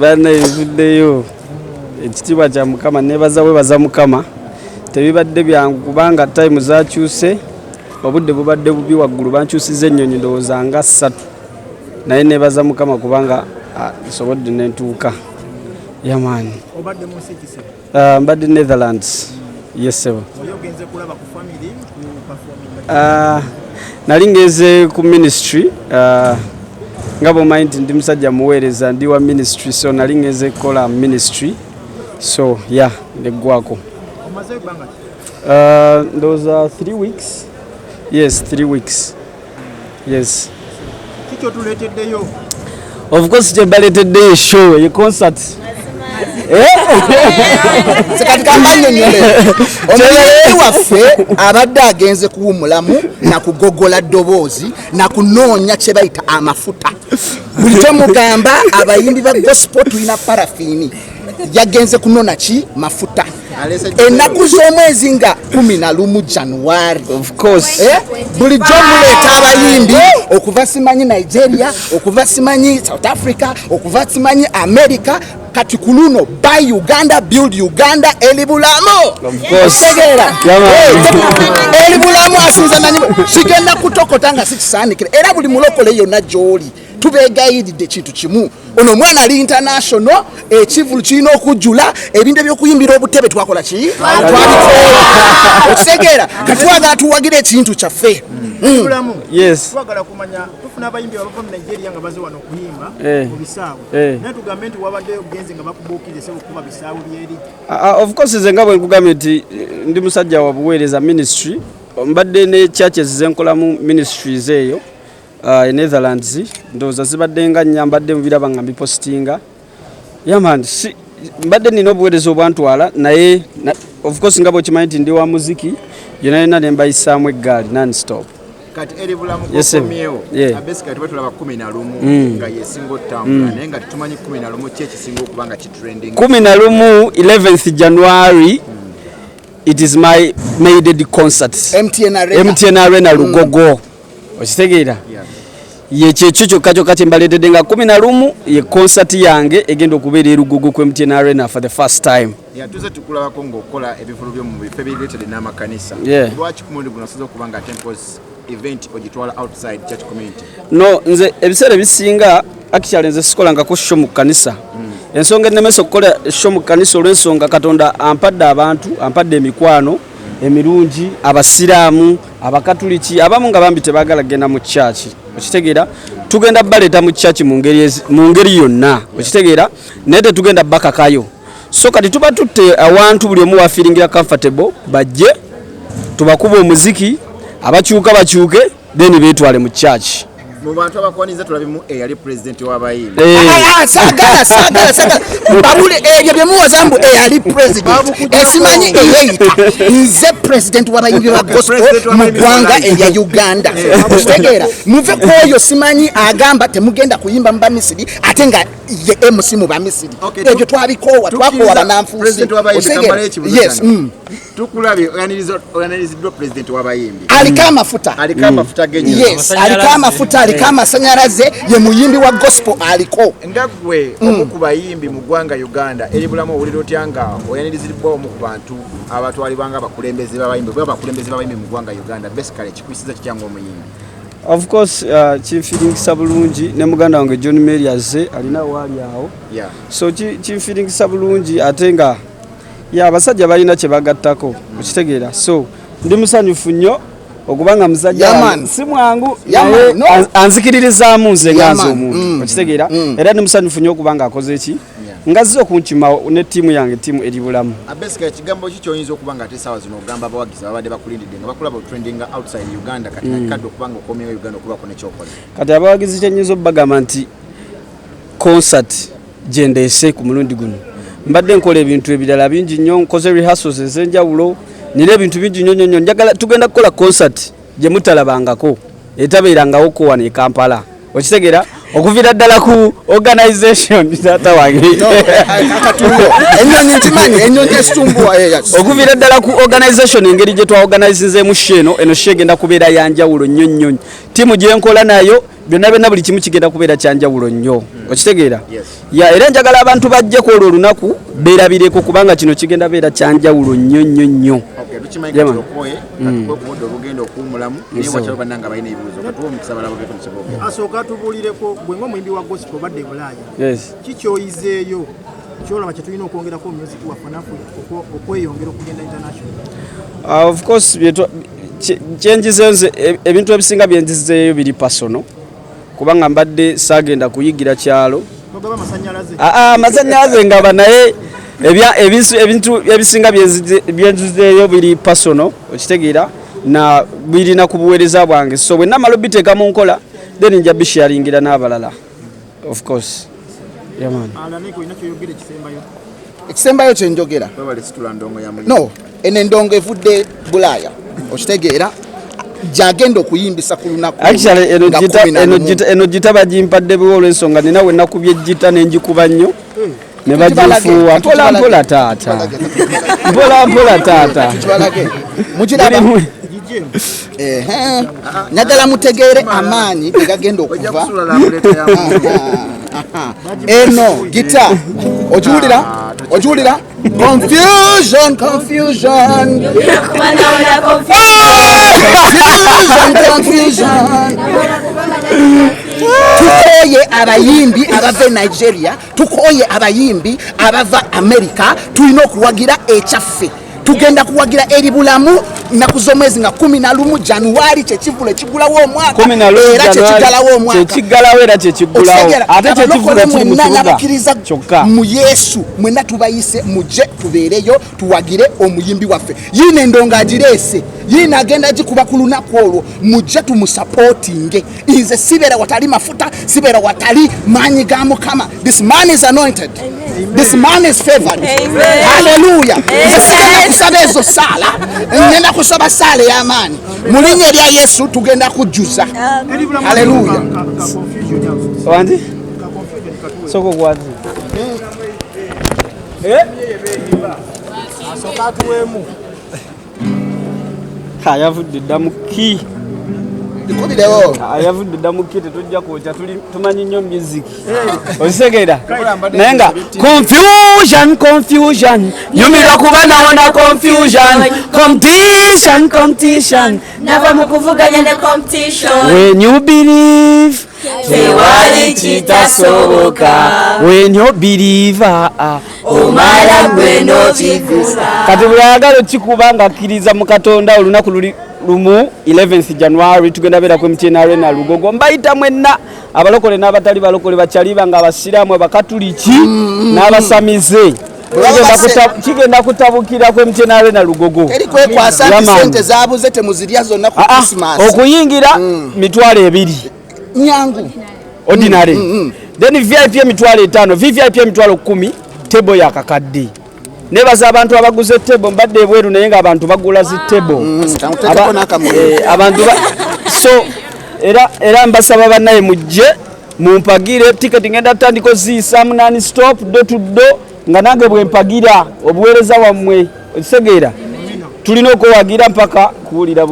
bana ebivuddeyo ekitiibwa kya mukama nebaza webaza mukama tebibadde byangu kubanga time zakyuse obudde bubadde bubi waggulu bankyusiza ennyonyi ndowooza nga ssatu naye nebaza mukama kubanga ah, nsobodde nentuuka yamaani Ah, mbadde Netherlands yesebo ah, nali ngenze ku ministry ah, nga bwomanyi nti ndi musajja muweereza ndi wa ministry so nali ngenze kukola ministry so ya yeah, neggwako ndowooza 3 weeks yes 3 weeks yes kikyo tuleteddeyo of course kyebaleteddeyo show ye concert kati kambanyonyole omuyi waffe abadde agenze kuwumulamu nakugogola ddoboozi nakunoonya kyebayita amafuta buli kyemugamba abayimbi ba gospel tulina parafini yagenze kunona ki mafuta ennaku z'omwezi nga kumi na lumu januari eh? bulijjo muleeta abayimbi okuva simanyi nigeria okuva simanyi south africa okuva simanyi america kati ku luno by uganda build uganda elibulamu otegeera elibulamu asinza nanyi kigenda kutokota nga sikisaanikira era buli mulokole yonna gy'oli tubeegayiridde kintu kimu ono omwana ali international ekivulu kirina okujjula ebintu ebyokuyimbira obutebe twakola ki twabiteekitegeera katwagala tuwagira ekintu kyaffe hmm. twagala kumanya tufuna abayimbi abava mu nigeria nga baze wano okuyimba mu eh. bisaawe eh. naye tugambe nti wabadde ogenze nga bakubuukirize okukuba bisaawe byeri ah, ah, of course ze nga bwe nkugambye nti eh, ndi musajja wa buweereza ministry mbadde ne churches zenkolamu ministries eyo uh, e Netherlands ndowooza zibadde nga nnya mbadde mubiraba nga mbipositinga yaman si, mbadde nina obuweereza obwantwala naye na, of course nga bwekimanyi nti ndi wa muziki yona yona ne mbayisaamu eggaali non stop kati eri bulamu kokomyewo abesi kati batulaba kumi na lumu mm. nga yesinga otambula mm. naye nga tetumanyi kumi na lumu ki ekisinga okuba nga kitrending kumi na lumu 11th january mm. it is my maided concert mtn arena, MTN arena mm. lugogo mm. okitegeera yekyekyo kyokka kyokka kyembaleetedde nga kumi na lumu ye concert yange egenda okubeera erugogo ku mtn arena for the first time tuze tukulabako ngaokola ebivulu byo mu bifo ebireetede n'amakanisa lwaki ku mundi guno asoza okuba nga tempos event ogitwala outside church community no nze ebiseera ebisinga actually nze sikolangako sho mu kanisa hmm. ensonga ennemesa okukola sho mu kanisa olw'ensonga katonda ampadde abantu ampadde emikwano emirungi abasiraamu abakatuliki abamu nga bambi tebagala kugenda mu kyaki okitegeera tugenda baleeta mu kyaki mu ngeri yonna okitegeera naye tetugenda bakakayo so kati tuba tutte awantu buli omu wafiringira comfortable bajje tubakuba omuziki abakyuka bakyuke then betwale mu kyaki mu bantu abakwaniza tulabimu eyali eh, pulezidenti w'abayimbi eh. ah, ah, sagala sagala sagala babule ebyo eh, bye muwoza mbu eyali pulezidenti ekimanyi eyeyita nze pulezidenti w'abayimbi ba gospel mu ggwanga erya uganda okitegeera muve ku oyo simanyi agamba temugenda kuyimba mu bamisiri ate nga ye emusi mu bamisiri ebyo twabikoowa twakoowa bananfuusi yes mm. tukulabye oyaniriziddwa pulezidenti wabayimbi aliko amafuta aliko amafuta yes aliko amafuta aliko amasanyalaze ye muyimbi wa gospel aliko nga gwe mm. omu ku bayimbi mu ggwanga uganda eri bulamu owulira otya nga oyaniriziddwa omu ku bantu abatwalibwa nga abakulembeze babayimbi oba abakulembeze babayimbi mu ggwanga uganda basically kikwisiza kitya nga omuyimbi of course uh, kinfiringisa bulungi ne muganda wange john mary azze alina waali awo so kinfiringisa bulungi ate nga ya abasajja balina kye bagattako okitegeera so ndi musanyufu nnyo okuba nga musajja si mwangu naye anzikiririzaamu nze ngaaza omuntu mm. okitegeera mm. era ndi musanyufu nnyo okuba nga akoze ki ngazze okunkimawo ne ttiimu yange ttiimu eri bulamu abesika ekigambo ki kyoyinza okuba nga ate esaawa zino ogamba abawagizi babadde bakulindidde nga bakulaba otrendinga outside uganda kati mm. nakikadde okuba nga okomyewo uganda okubako nekyokola kati abawagizi kyenyinza obubagamba nti concert gye ndeese ku mulundi guno mbadde nkola ebintu ebirala bingi nnyo nkoze rehearsals ez'enjawulo nina ebintu bingi nnyo nnyo nnyo njagala tugenda kukola concert gye mutalabangako etabeerangawo ko wano e kampala okitegera okuvira ddala ku organization taata wange okuvira ddala ku organization engeri gye twaorganizinzeemu sho eno eno sho egenda kubeera yanjawulo nnyo nnyo ttiimu gye nkola nayo byonna byonna buli kimu kigenda kubeera kyanjawulo nnyo hmm. okitegeera ya era njagala abantu bajje ku olwo olunaku beerabireko kubanga kino kigenda beera kyanjawulo nnyo nnyo nnyo asooka tubulireko gwe nga omuyimbi wa gosiko badde bulaaya kikyoyizeeyo kyolaba kyetulina okwongerako omuziki waffe nafe okweyongera okugenda international ah, of course kyenjizenze e, ebintu ebisinga byenjizeeyo biri pasono kubanga mbadde saagenda kuyigira kyalo amasanyalaze ah, ah, ngaba naye ebintu ebisinga byenzizeeyo biri pasono okitegeera na birina ku buweereza bwange so bwenamala obiteeka mu nkola then nja bisharingira n'abalala Of course. Yeah, man. ekisembayo kyenjogera no eno endongo evudde bulaaya okitegeera gyagenda okuyimbisa ku lunakueno gita bagimpadde biwa olwensonga nina wenakubye gita nengikuba nnyo hmm. ne bagifuuwa mpola mpola taata mpola mpola taata naddala mutegeere amaanyi gegagenda okuva eno gita okiwulira okiwulira confusion confusion tukoye abayimbi abava e nigeria tukoye abayimbi abava amerika tulina okuwagira ekyaffe tugenda kuwagira eri bulamu nnaku z'omwezi nga kumi na lumu januwari kyekivulu ekigulawo omwakaera kyekiggalawo omwakakiggalawo era kyekiggulawo ate kyekivulu ekiri mu kibuga kyokka mu yesu mwenna tubayise mujje tubeereyo tuwagire omuyimbi waffe yiino endongo agireese yiino agenda gikuba ku lunaku olwo mujje tumusapootinge nze sibeera watali mafuta sibeera watali maanyi ga mukama this man is anointed this man is favored haleluya nze sigenda kusaba ezo saala ngenda kusaba saala ey'amaanyi mu linnya erya yesu tugenda kujjuza haleluya soko gwazi Eh? ayavudde dda mu ki ayavudde dda mu ki tetujja kwokya tumanyi nnyo music okisegeera naye nga confusion confusion nyumirwa kuba nawona confusion competition competition nava mu kuvuganya ne competition when you believe tewali kitasoboka when you believe ah, ah. omala gwe nokigusa kati buli ayagala okikuba nga akkiriza mu katonda olunaku luli lumu 11 january tugenda beerako emtyena arena lugogo mbayita mwenna abalokole n'abatali balokole bakyaliba nga abasiraamu abakatuliki mm, mm, mm. n'abasamize kigenda kutabukira kwe mtn arena lugogo okuyingira mm. mitwalo ebiri nyangu ordinary mm, mm, then vip emitwalo etaano vvip emitwalo kumi tebo yakakadde nebaza abantu abaguze tebo mbadde ebweru naye nga abantu bagula zi tebo eh, abantu so era mbasaba banaye mujje mumpagire ticket ngenda tandiko ziisamu nani stop do to do nga nange bwempagira obuweereza wammwe okisegeera tulina okuwagira mpaka kuwulira bubi